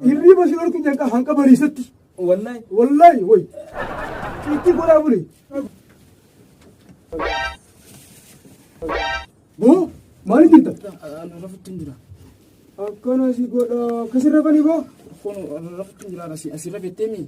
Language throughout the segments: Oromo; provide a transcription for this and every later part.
Hirriba si dhorku jalqaba hanqa bariisatti. Wallahi. Wallahi woy. Itti godhaa buli. Boo maaliif jirta? Ani rafutti hin jira. Akkana si godha akkasirra bani boo. Kun rafutti hin jira asirra bettee mii?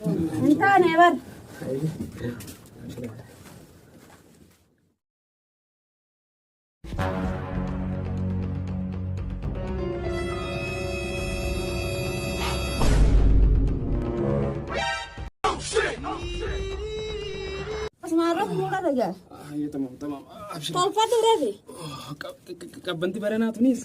Hin taane bar. Asmaarra fuula dhagaa. Tolfatu reefi. Qabbanti baranaa tunis.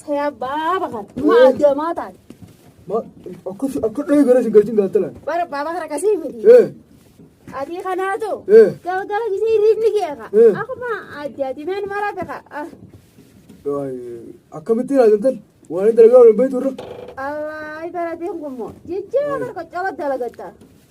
Saya ba'a bakan. Maa jamaa taate. Ma akkas akka dhahee gara isin galchin gaattalaan. Bara baaba kana kasii miti. Eh Adii kanaatu. eh Galgala gisee hirriibni keeka. Eh. Akkuma addi addi meen mara beeka. waay akkamittiin haajantan waan inni dalagaa waliin beektu irra. Allaa barateen kun moo. Jijjiirama barqoccaba dalagatta.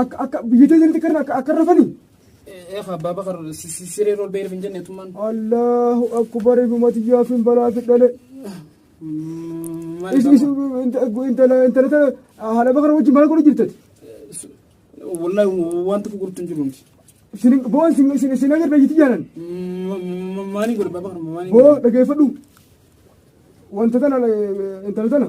Akka akka biyya teessanitti akka akka akka rafani. Ee abbaa bakar siree rool beerif hin jenne tummaan. Allahu akbar ifumati yaafin balaa fidhale. Maal Isin isin intala intala tana haala bakara wajjin maal godhu jirtati? Wallahi waan tokko gurtu hin jiru nuti. Isin boo isin isin isin agarra jiti jaalan. Maanii godhe abbaa bakar maanii. Boo dhageeffadhu. Wanta tana intala tana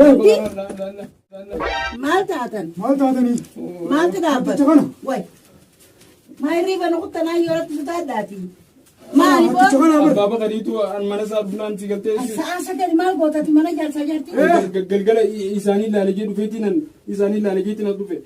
Rabbi. Maal taatan? Maal taatanii? Maaltu dhaabbata? Jecha kana. Way. Maa hirriiba nu kuttanaa yoo irratti sutaa addaati. Maali boo? Jecha kana bar. Abbaa bakariitu an mana isaa bulaan si galtee Sa'aa sagal maal gootati mana jaarsaa jaartii? galgala isaanii laalejee dhufeetiin an isaanii laalejee tiin as dhufe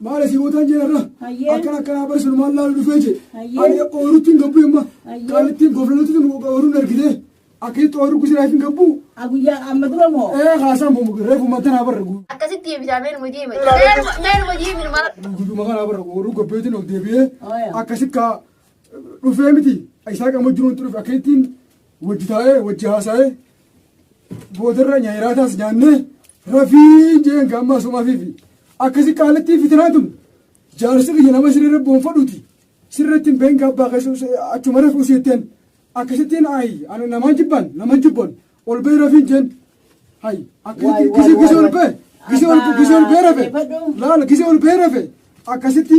Maale si bootaan jira irra. Hayyee. Akkana akkanaa bari sun maal laalu dhufee jee. Hayyee. Ani oorutti hin gabbu imma. Hayyee. Kaalittiin goflalutti tun ooruun argitee. Akkasitti ooruu kusiraa hin gabbu. A guyyaa amma dura moo? Ee haasaan bomu reefu matanaa barra gu. Akkasitti deebisaa meenuma deeme. Meenuma meenuma deeme numa. Gudduma kanaa barra ooruu gabbeetiin of deebi'ee. Ooya. Akkasitti kaa dhufee miti. Isaa qama jiruun dhufe akkasittiin Wajji taa'ee wajji haasa'ee boodarra nyaayiraataas nyaannee rafii jeen gaamma asumafiifi akkasi qaalattii fitinaa tun jaarsi kiyya nama sirrirra boonfadhuuti sirratti hin been gaabbaa keessa achuma rafuu siitteen akkasittiin ayi ani namaan jibban namaan jibban ol bee rafiin jeen hayi akkasitti gise gise ol bee gise ol gise ol bee rafe laala gise ol bee rafe akkasitti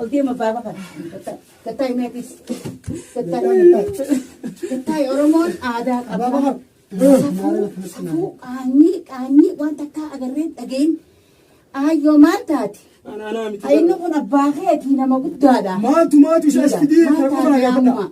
Oltee mabbaaba kana. Gattaay meetis. Gattaay Gattaay Oromoon aadaa qaba. Safuu qaanyii qaanyii waan takkaa agarreen dhageen aayyoo maal taate? Inni kun abbaa keetii nama guddaadha. Maaltu maaltu isa isti diirta Maal taate amma?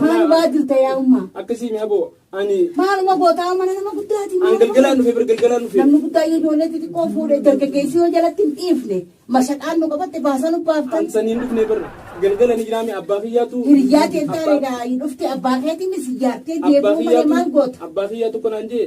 Maal waa jirta yaa ummaa? Akkasii mi aboo ani Maaluma gootaa mana nama guddaati. an galgalaan dhufe bir galgalaan dhufe. Namni guddaa yoo ijoollee xixiqqoo fuudhe dargaggeessi yoo jalatti hin dhiifne mashaqaan nu qabatte baasaa nu baaftan. An saniin dhufne bir galgala ni jiraame abbaa kiyyaatu. Hiriyyaa keessaa egaa hin dhufte abbaa keetiin si jaartee Abbaa deebi'uu malee maal kiyyaatu goota? abbaa kiyyaa tokko naan jee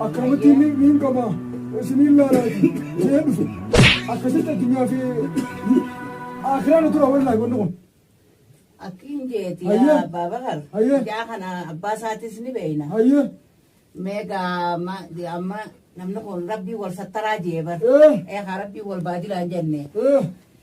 Akkamitti ni niin qaba isiniin laalaati jee dhufe akkasitti addunyaa fi akiraan tura wallaahi wanni kun. Akkiin jeeti Hayyee. yaa abbaa bakar. Hayyee. Ijaa kana abbaa isaatis ni beeyna. Hayyee Meegaa ma amma namni kun rabbii wal sattaraa jee bar. Eh. Eegaa rabbii wal baadilaan jenne. eh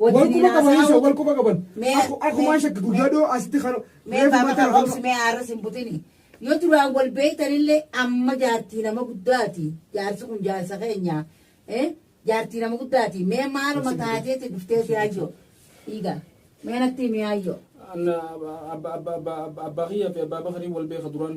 Wal quba qaban isa wal quba qaban. Akkumaan shakki guyyaa dhoo asitti kan reefu mataa kan. Obsi mee aarras hin butini. Yoo duraan wal beektanillee amma jaartii nama guddaati. Jaarsi kun jaarsa keenya. Jaartii nama guddaati. Mee maaluma taateeti dhuftee siyaayyo. Dhiiga. Mee natti miyaayyo. Abbaa kiyyaa fi abbaa bakarii wal beeka duraan.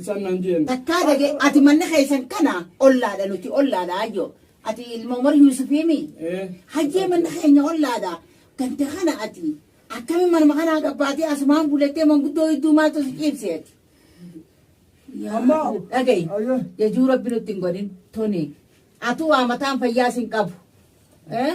isaan naan jeen. Takkaa dage ati manni keessan kana ollaadha nuti ollaadha ayyo. Ati ilma Umar Yuusufiimi. Ee. Hayyee manni keenya ollaadha. Gante kana ati akkami manuma kanaa gabbaatee asumaan bulettee manguddoo hedduu maaltu si ciibseeti. Amma. Dhagayi. Ayyo. Jajuu rabbi nutti hin godhin tuni. Atuu waa mataan fayyaa sin qabu. Eh?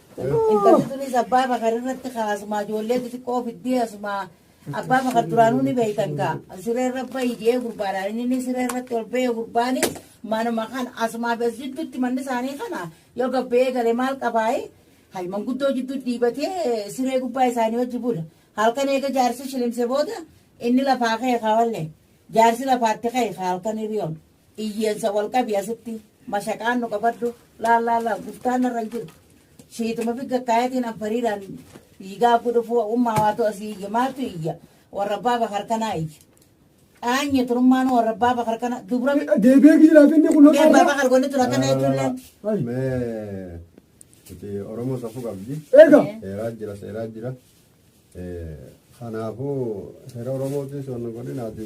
Intalli tunis abbaa bakar irratti kaa asumaa ijoollee xixiqqoo fiddee asumaa abbaa bakar duraanuu ni beektan kaa siree irra bahi jee gurbaadhaan inni ni siree irratti ol bahee gurbaanis manuma kan asumaa bes jidduutti manni isaanii kana yoo gabbee gale maal qabaayi hay manguddoo jidduu dhiibatee siree gubbaa isaanii hojji bula halkan eega jaarsi shilimse booda inni lafaa ka'e kaa wallee jaarsi lafaatti ka'e kaa halkan hiriyoon Iyyeessa wal qabi asitti mashaqaan nu qabadhu laal laal laal guftaan narra hin jiru. Shiituma fi gakkaayatiin anfariiraan dhiigaa gudhufuu ummaa waatu asii iyya maaltu iyya warra abbaa bakar kanaa iyya. Qaanye turummaan warra abbaa bakar kana dubra Deebi'ee giiraaf inni kun mee abbaa bakar godhe tura kana jechuun laatti. Mee nuti Oromoo safuu qabdi. Eega. Seeraa jira seeraa jira. Eh, Kanaafuu seera Oromootiin soonna godhinaati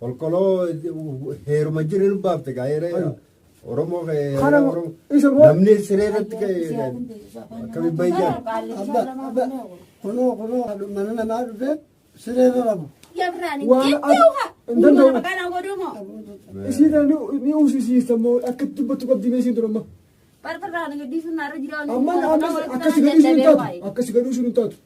Kolkoloo heeruma jiru nu baafte gaa heera Oromoo heera Oromoo. Namni siree irratti akkami bayyaa. Kunoo kunoo mana namaa dhufe siree irra rabu. Isiidhaan ni uusisiista moo akka dubbatu qabdi mee isiin durumma. Amma akkasi gadhuu sun hin taatu. Akkasi gadhuu sun hin taatu.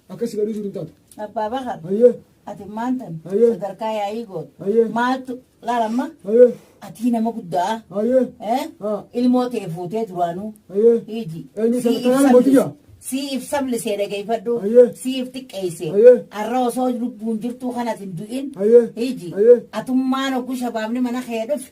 Akkas garuu jiru hin taatu. Abbaa Bakar. Hayyee. Ati maantan. Hayyee. Sadarkaa yaa'ii goote. Hayyee. Maaltu laalamma. Hayyee. Atii nama guddaa. Hayyee. Eh? Haa. Ilmoo tee fuutee duraanuu. Hayyee. Hiiji. Eenyu Sii sadarkaa ibsabli- mooticha? Sii ibsabli see dhageeffadhu. Hayyee. Sii if xiqqeesse. Hayyee. Arra osoo lubbuun jirtuu kanas hin du'in. Hayyee. Hiiji. Hayyee. Atummaan oggu shabaabni mana kee dhufe.